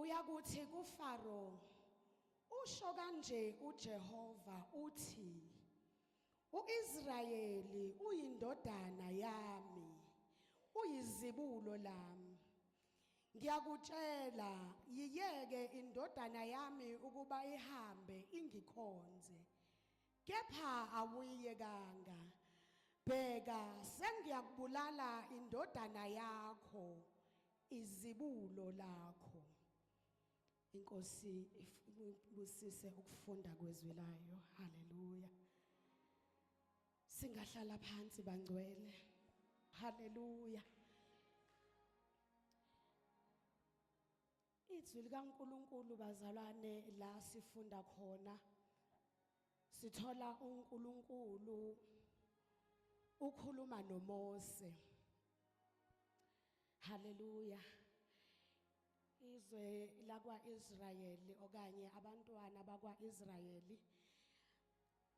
Uyakuthi kuFaro, Usho kanje uJehova uthi, UIsrayeli uyindodana yami, uyizibulo lami. Ngiyakutshela, yiyeke indodana yami ukuba ihambe ingikhonze. Kepha awuyiyekanga. Bheka, sengiyakubulala indodana yakho. izibulo lakho inkosi ibusise ukufunda kwezwi layo haleluya singahlala phansi bangcwele haleluya izwi likaNkuluNkulu bazalwane la sifunda khona sithola uNkuluNkulu ukhuluma noMose Hallelujah. Izwe lakwaIsrayeli okanye abantwana bakwaIsrayeli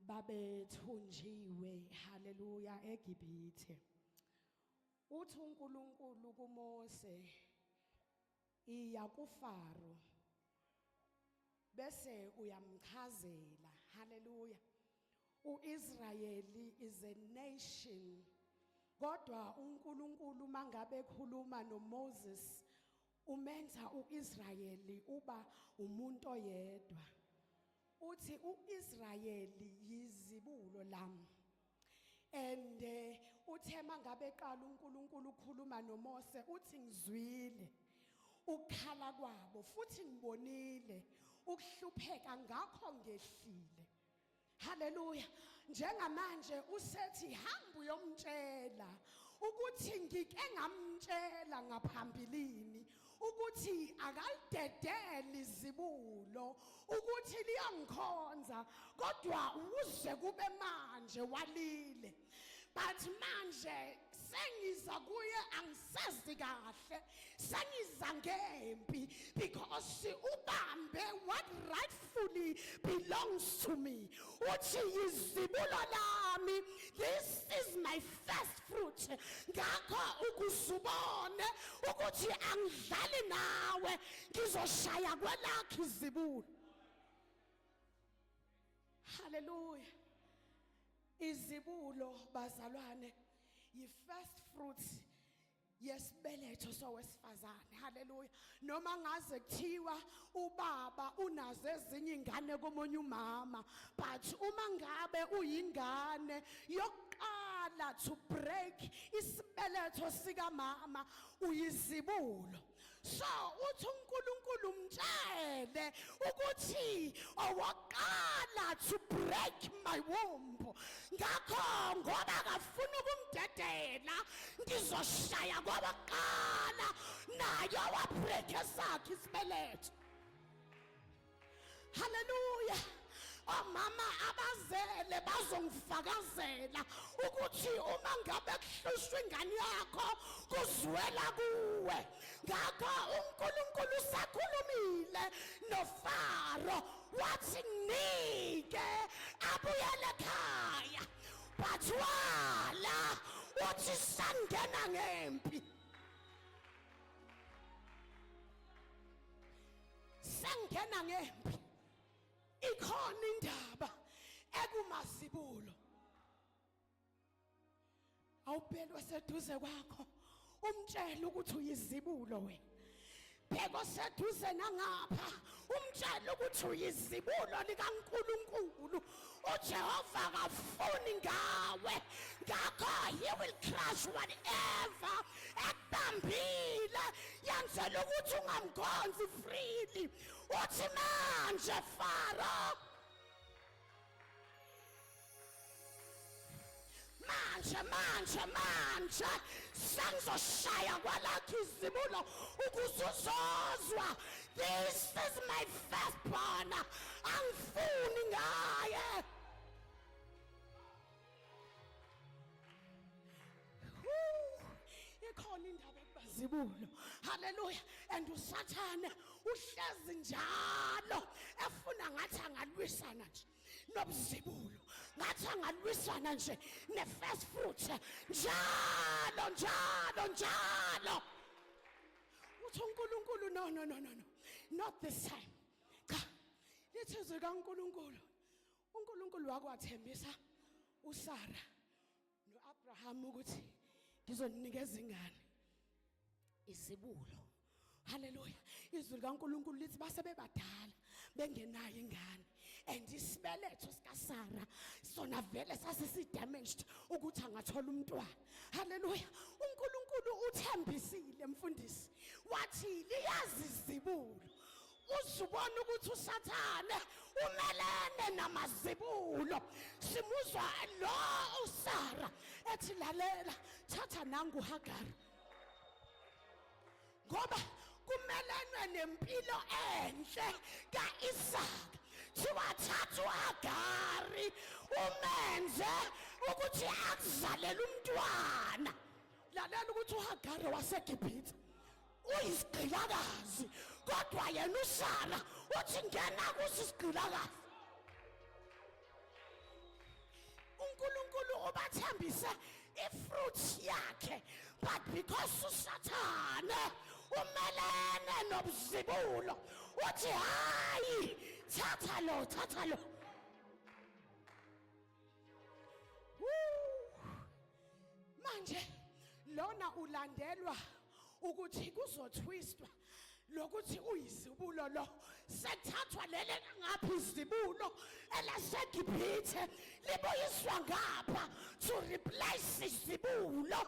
babethunjiwe haleluya eGibithe. Uthi uNkulunkulu kuMose iya kuFaro bese uyamchazela haleluya uIsrayeli is a nation kodwa uNkulunkulu mangabe ekhuluma noMoses umenza uIsrayeli uba umuntu oyedwa uthi uIsrayeli yizibulo lami and eh, uthe mangabe eqala uNkulunkulu ukhuluma noMose uthi ngizwile ukukhala kwabo futhi ngibonile ukuhlupheka ngakho ngehlile Haleluya. Njengamanje usethi hamba uyomtshela ukuthi ngike ngamtshela ngaphambilini ukuthi akalidedeli izibulo ukuthi liyangikhonza kodwa uze kube manje walile but manje sengiza kuye angisezi kahle sengiza ngempi because ubambe what rightfully belongs to me uthi izibulo lami this is my first fruit ngakho ukuzubone ukuthi angidlali nawe ngizoshaya kwelakhe izibulo haleluya izibulo bazalwane yi first fruit yesibeletho sowesifazane haleluya noma ngaze kuthiwa ubaba unazo ezinye ingane komunye umama but uma ngabe uyingane yokuqala to break isibeletho sikamama uyizibulo so uthi uNkulunkulu umtshele ukuthi owokuqala to break my womb ngakho ngoba akafuna ukumdedela ngizoshaya kowokuqala naye owabreak esakhe isibeletho haleluya omama abazele bazongifakazela ukuthi uma ngabe kuhlushwa ingane yakho kuzwela kuwe ngakho uNkulunkulu usakhulumile noFaro wathi nike abuyele ekhaya bathwala uthi sangena ngempi sengena ngempi ikhona indaba ekumazibulo awubelwe seduze kwakho umtshela ukuthi uyizibulo wena bheka oseduze nangapha umtshela ukuthi uyizibulo likaNkuluNkulu ujehova akafuni ngawe ngakho he will crush whatever ekubambile yenzela ukuthi ungamkhonzi freely uthi manje faro manje manje manje sengizoshaya kwalakho izibulo ukuze uzozwa this is my first born angifuni ngaye ikhona indaba kubazibulo haleluya and usathane uhlezi njalo efuna ngathi angalwisana nje nobuzibulo ngathi angalwisana nje ne-first fruit njalo njalo njalo uthi unkulunkulu no no no no no not this time cha lithi izwi kankulunkulu unkulunkulu wakwathembisa usara noAbraham ukuthi ngizoninikeza ingane izibulo haleluya izwi likaNkuluNkulu lithi base bebadala bengenayo ingane and isibeletho sikaSara sona vele sasisi-damaged ukuthi angathola umntwana haleluya uNkulunkulu uthembisile mfundisi wathi liyazi izibulo uzubona ukuthi usathane umelene namazibulo simuzwa lo usara ethi lalela thatha nangu hagari ngoba kumelenwe nempilo enhle ka-isaka siwathatha uhagari umenze ukuthi akuzalele umntwana lalela ukuthi uhagari wasegibhithe uyisigqilakazi kodwa yena usara uthi ngena kuso isigqilakazi unkulunkulu ubathembise ifruit yakhe but because usathane umelene nobuzibulo uthi hayi thatha lo thatha lo manje lona ulandelwa ukuthi kuzothwistwa lokuthi uyizibulo lo sethathwa leli ngapha izibulo elaseGibhithe libuyiswa ngapha to replace izibulo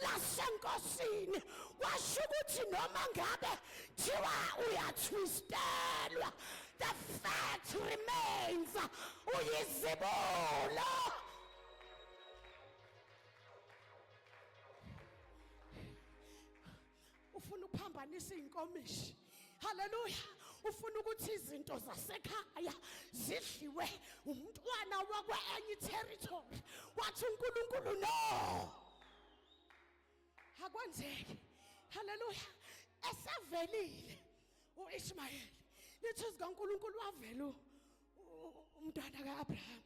lasenkosini kwasho ukuthi noma ngabe thiwa uyathwistelwa The fact remains uyizibulo. Ufuna ukuphambanisa inkomishi. Hallelujah. Ufuna ukuthi izinto zasekhaya zidliwe umntwana wakwenye territory. Wathi uNkulunkulu no. akwenzeki haleluya esevelile uIshmayeli lithi zikaNkuluNkulu wavela umntwana kaAbraham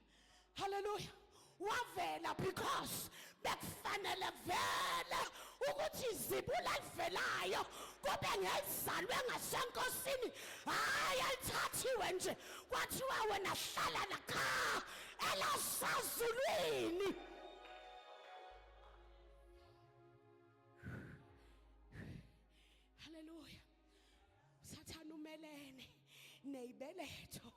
haleluya wavela because bekufanele vele ukuthi izibula livelayo kube ngezalwe ngasenkosini hayi alithathiwe nje kwathiwa wena hlala lakha elasazulwini Hallelujah. Sathana umelene nezibeletho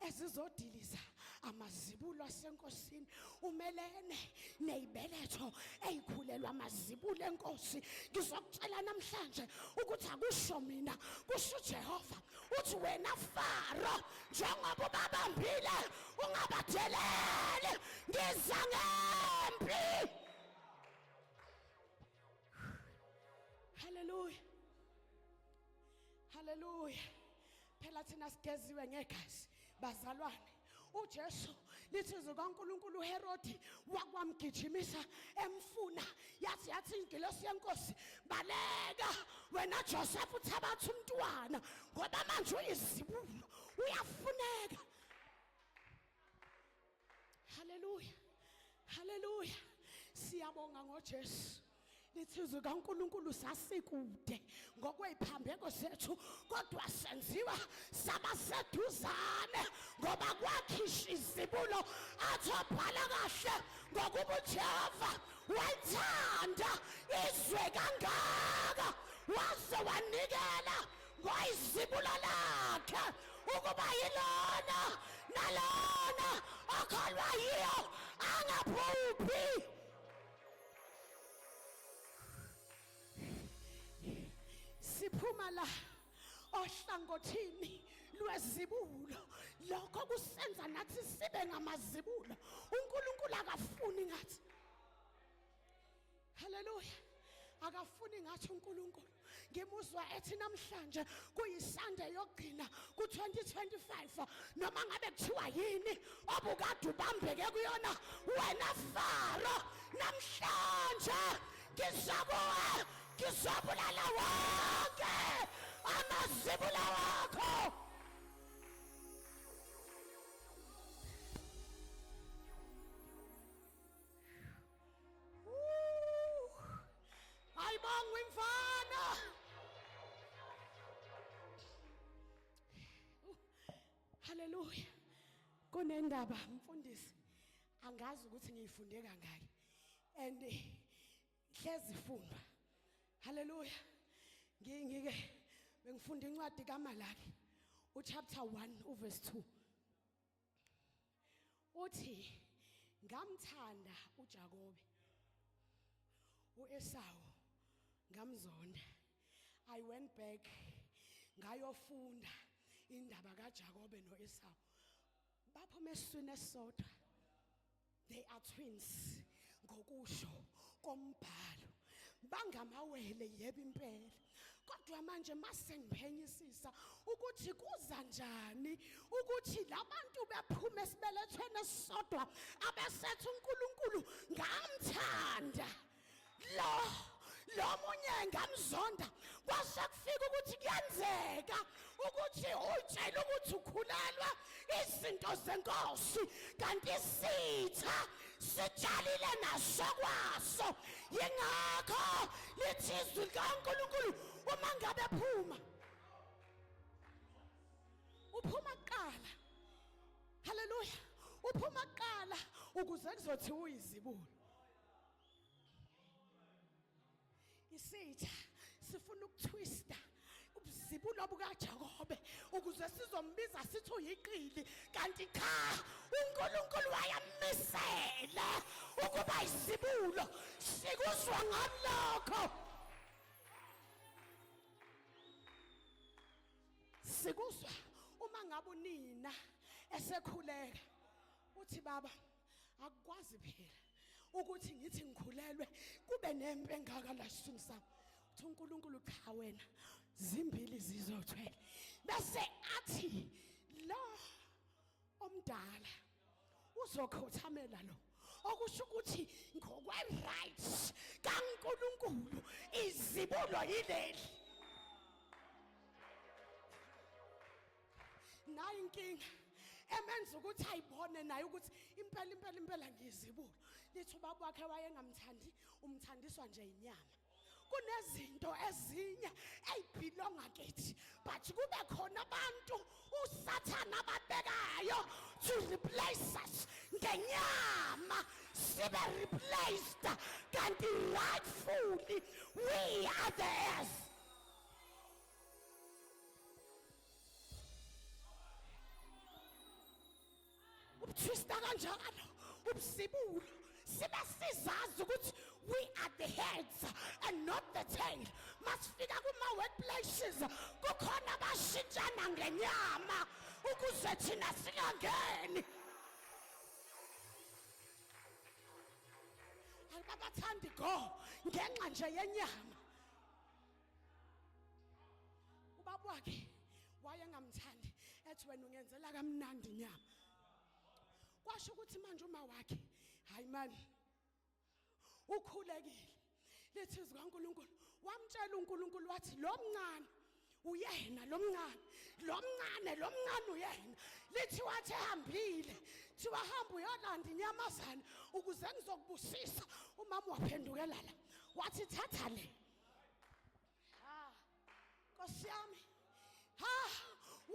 ezizodiliza amazibulo asenkosini umelene nezibeletho ezikhulelwa amazibulo enkosi ngizokutshela namhlanje ukuthi akusho mina kusho uJehova uthi wena Faro njengoba ubabambile ungabadeleli ngiza ngempi Hallelujah. Hallelujah. Phela thina sigeziwe ngegazi bazalwane. uJesu lithi izwi kaNkuluNkulu uHerodi wakwamgijimisa emfuna yathi yathi ingilosi yenkosi baleka wena Joseph uthabatha umntwana ngoba manje uyizibulo uyafuneka Hallelujah. Hallelujah. Siyabonga ngoJesu. Lithizwe kaNkuluNkulu sasikude ngokweziphambeko zethu kodwa senziwa sabaseduzane ngoba kwakhisha izibulo athobhala kahle ngokuba uJehova wayithanda izwe kangaka waze wanikela wayizibulo lakhe ukuba yilona nalona okholwa yiyo angaphuphi siphuma la ohlangothini lwezibulo lokho kusenza nathi sibe ngamazibulo uNkulunkulu akafuni ngathi Hallelujah. akafuni ngathi uNkulunkulu ngimuzwa ethi namhlanje kuyisande yokugcina ku2025 noma ngabe kuthiwa yini obukade ubambeke kuyona wena faro namhlanje ngizokuwe ngizobulala wonke amazibula wakho Hayi bonga imfana. Hallelujah. Kunendaba mfundisi. Angazi ukuthi ngiyifunde kangaki. And hlezi funda. Hallelujah. Ngingike bengifunda incwadi kaMalaki. uchapter 1 uverse 2 uthi ngamthanda uJakobe uEsawu ngamzonda i went back ngayofunda indaba kaJakobe noEsawu baphuma esiswini esisodwa they are twins ngokusho kombhalo bangamawele yebo impela kodwa manje masengiphenyisisa ukuthi kuza njani ukuthi labantu bephume esibelethweni esisodwa abesethu uNkulunkulu ngamthanda lo lo munye ngamzonda kwase kufika ukuthi kuyenzeka ukuthi utshela ukuthi ukhulelwa izinto zenkosi kanti isitha sitshalile naso kwaso yingakho lithi izwi likaNkulunkulu uma ngabe phuma uphuma kuqala haleluya uphuma kuqala ukuze kuzothiwa uyizibulo isitha sifuna ukutwista ubuzibulo bukaJakobe ukuze sizombiza sithi uyiqili kanti cha uNkulunkulu wayamisela ukuba izibulo sikuzwa ngalokho sikuzwa uma ngabe unina esekhuleka uthi baba akukwazi phela ukuthi ngithi ngikhulelwe kube nempi engaka la siswini sami uthi uNkulunkulu cha wena zimbili zizothwele bese athi lo omdala uzokhothamela lo okusho ukuthi ngokwe right kaNkuluNkulu izibulo yileli nayo inkinga emenza ukuthi ayibone naye ukuthi impela impela impela ngiyizibulo lithi ubaba wakhe wayengamthandi umthandiswa nje inyama kunezinto ezinye eyibhilonga kithi but kube khona abantu usathana ababekayo to replace us ngenyama sibe replaced kanti rightfully we are the heirs ubuthwista kanjalo ubusibulo sibe sizazi ukuthi we are the heads and not the tail masifika kuma-workplaces kukhona abashintshana ngenyama ukuze thina singangeni ayibabathandi go ngenxa nje yenyama ubaba wakhe wayengamthandi ethi wena ungenzela kamnandi nyama kwasho ukuthi manje uma wakhe hayi mani ukhulekile lithi izwi kaNkuluNkulu wamtshela uNkuluNkulu wathi lo mncane uyena lo mncane lo mncane lo mncane uyena lithi wathi ehambile thiwa hamba uyolanda inyamazana ukuze ngizokubusisa umama waphendukela la wathi thatha le ha nkosi yami ha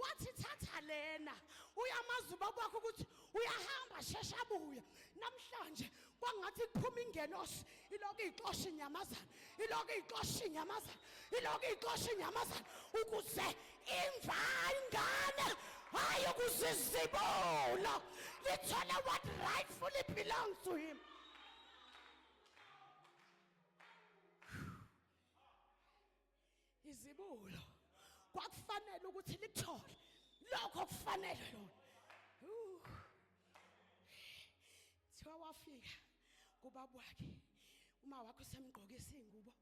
wathi thatha lena uyamazi ubaba wakho ukuthi uyahamba shesha abuya namhlanje kwangathi kuphuma ingelosi iloko ixosha inyamazana iloko ixosha inyamazana iloko ixosha inyamazana ukuze imva ingane hayi ukuzizibula lithole what rightfully belongs to him izibulo kwakufanele ukuthi lithole lokho kufanele lona thiwa wafika kubaba wakhe uma wakho semgqokisa ingubo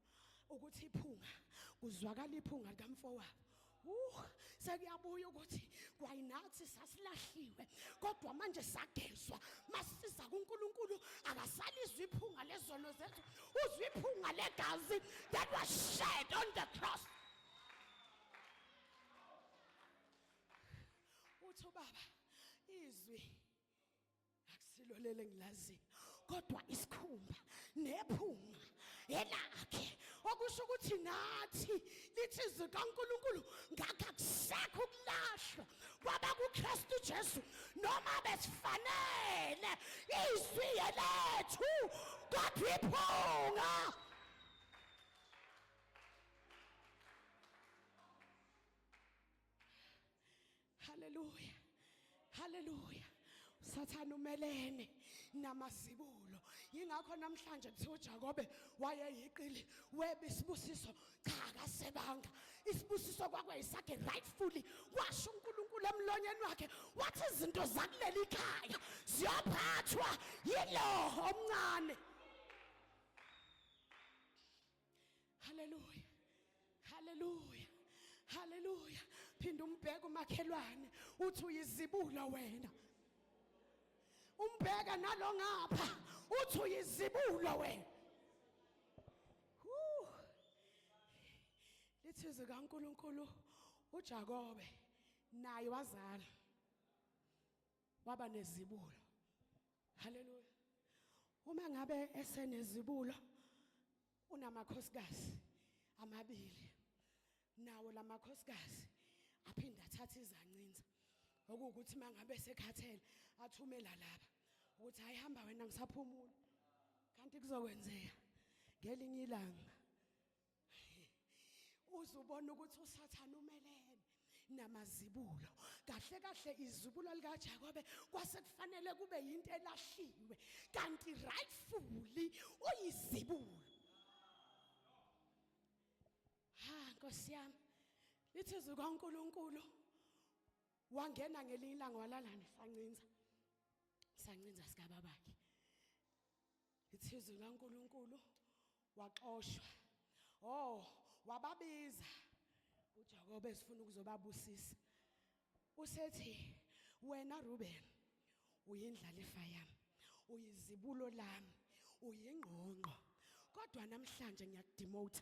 ukuthi iphunga kuzwakala iphunga likamfowabo Huh, sekuyabuya ukuthi kwayinathi sasilahliwe kodwa manje sagezwa masiza kuNkulunkulu akasalizwa iphunga lezono zethu uzwa iphunga legazi that was shed on the cross uthi ubaba izwi akusilo lele engilaziyo kodwa isikhumba nephunga elakhe okusho ukuthi nathi lithi izwi kaNkulunkulu ngakho akusekho ukulashwa kwaba kuKristu Jesu noma besifanele izwi lethu kodwa iphunga Hallelujah. Hallelujah. Sathana umelene namazibulo. Yingakho namhlanje kuthiwa uJakobe wayeyiqili weba isibusiso cha kasebanga. Isibusiso kwakwayisakhe rightfully washo uNkulunkulu emlonyeni wakhe wathi izinto zakuleli khaya ziyophathwa yilo omncane. Hallelujah. Hallelujah. Hallelujah. Phinda umbheke umakhelwane uthi uyizibula wena. Umbheka nalo ngapha uthi uyizibula wena. Woo. Lithi zika uNkulunkulu uJakobe naye wazala. waba nezibulo haleluya uma ngabe esenezibulo unamakhosikazi amabili nawo lamakhosikazi aphinde athathe izancinza okuwukuthi mangabe sekhathele athumela laba ukuthi hayi hamba wena ngisaphumula kanti kuzokwenzeka ngelinye ilanga uzubona ukuthi usathane umelene namazibulo kahle kahle izibulo likaJakobe kwase kufanele kube yinto elahliwe kanti rightfully uyizibulo ha nkosi yami lithi izwi kaNkuluNkulu wangena ngelinye ilanga walalana sancinza sancinza sikababakhe ithizwe likaNkulunkulu waxoshwa oh wababiza uJakobe esifuna ukuzobabusisa usethi wena Ruben uyindlalifa yami uyizibulo lami uyingqongqo kodwa namhlanje ngiyakudemote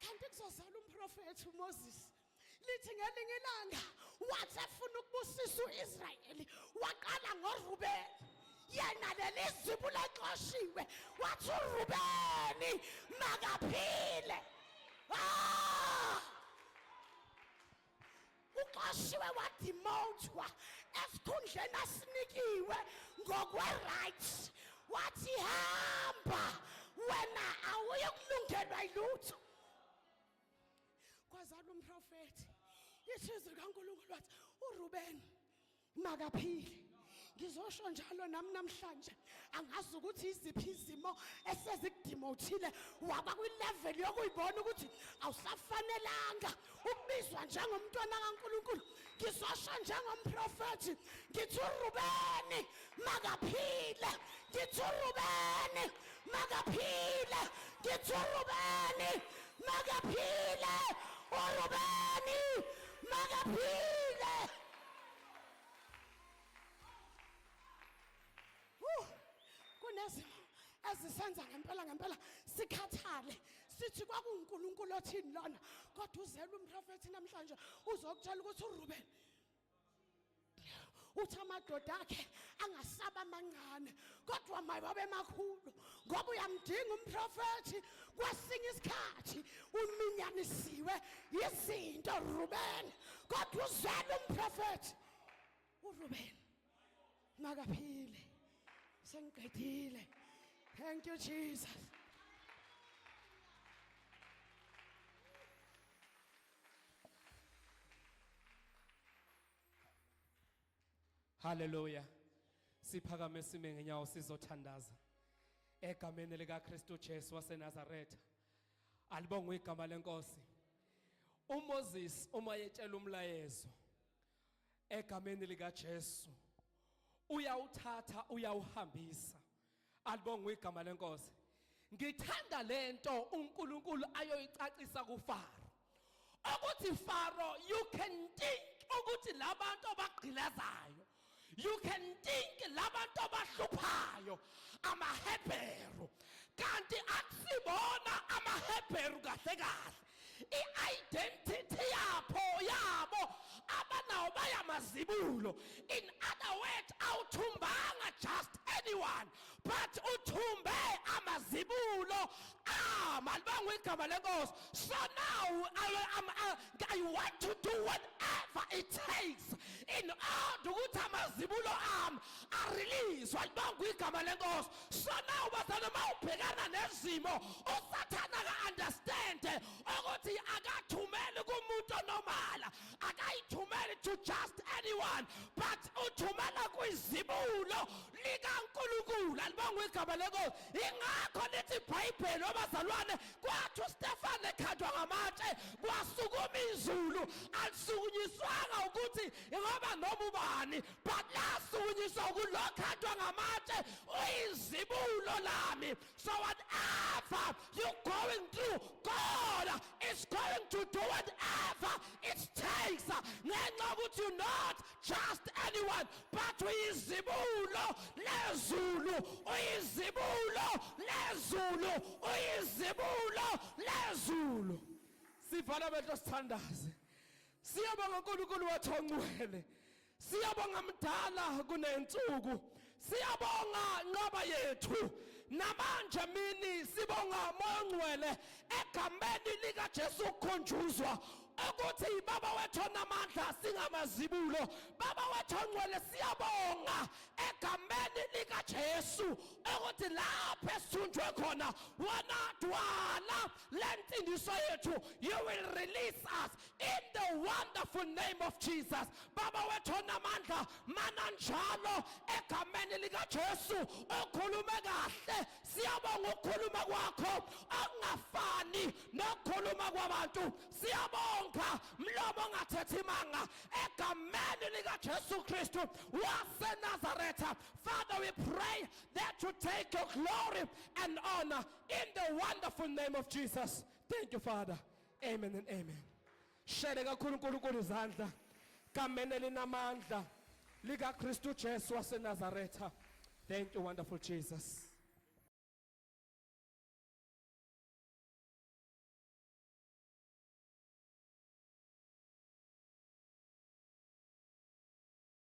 kanti kuzozala umprofethi uMoses lithi ngelinye ilanga wathi efuna ukubusisa uIsrayeli waqala ngoRubeni yena lelizibu lexoshiwe wathi uRubeni makaphile ah uxoshiwe wadimothwa esikhundleni asinikiwe ngokwe-right wathi hamba wena awuyokulungelwa yilutho kwazala umprofethi ithizwi likankulunkulu wathi urubeni makaphile ngizosho njalo nami namhlanje angazi ukuthi iziphi izimo esezikudimothile waba kwilevel yokuyibona ukuthi awusafanelanga ukubizwa njengomntwana kaNkuluNkulu ngizosho njengomprofethi ngithi urubeni makaphile ngithi urubeni makaphile ngithi urubeni makaphile urubeni makaphile kunezimo ezisenza ngempela ngempela sikhathale sithi kwakuwunkulunkulu othini lona kodwa uzelwe umprofethi namhlanje uzokutshela ukuthi urubeni uthi amadoda akhe angasaba amancane kodwa mayibabe makhulu ngoba uyamdinga umprofethi kwesinye isikhathi uminyanisiwe yizinto rubeni kodwa uzele umprofethi urubeni makaphile sengiqedile thank you jesus Hallelujah. Siphakame sime ngenyawo sizothandaza. Egameni lika Kristu Jesu waseNazaretha. Alibongwe igama lenkosi. UMoses uma yetshela umlayezo egameni lika Jesu uyawuthatha uyawuhambisa Alibongwe igama lenkosi. Ngithanda lento uNkulunkulu ayoyicacisa kuFaro. Ukuthi Faro you can think ukuthi labantu abagqilazayo you can think labantu abahluphayo amaHebheru kanti akusibona amaHebheru kahle kahle i-identity yapho yabo abanawo bayamazibulo in other words awuthumbanga just anyone but uthumbe amazibulo amalibanga igama lenkosi so now I, I, I, I want to do whatever it takes in order ukuthi amazibulo ami arelease walibanga igama lenkosi so now bazalwane uma ubhekana nezimo usathane aka-understande ukuthi akathumeli kumuntu onomala akayithumeli to just anyone but uthumela kwizibulo likankulunkulu alibongwa igama lenkosi ingakho lithi ibhayibheli obazalwane kwathi ustefane ekhandwa ngamatshe kwasukuma izulu alisukunyiswanga ukuthi ngoba noma ubani Basukunyiswa ukulokhathwa ngamatshe uyizibulo lami. So whatever you going through, God is going to do whatever it takes. Ngenxa ukuthi you not just anyone but uyizibulo lezulu uyizibulo lezulu uyizibulo lezulu sivala amehlo sithandaze Siyabonga uNkulunkulu wethu ongcwele. Siyabonga mdala kunensuku. Siyabonga nqaba yethu. Namanje mini sibonga moya ongcwele egameni lika Jesu kukhonjuzwa ukuthi ibaba wethu onamandla singamazibulo. Baba wethu ongcwele siyabonga egameni lika Jesu ukuthi lapho esithunjwe khona wona dwala lensindiso yethu you will release us in the wonderful name of Jesus baba wethu onamandla mana njalo egameni likaJesu ukhulume kahle siyabonga ukukhuluma kwakho okungafani nokukhuluma kwabantu siyabonga mlomo ongathethi imanga egameni likaJesu Kristu waseNazaretha Father we pray that you take your glory and honor in the wonderful name of Jesus thank you Father Amen and amen. Shele kakhulu uNkulunkulu izandla kamene linamandla lika Kristu Jesu waseNazaretha. Thank you wonderful Jesus.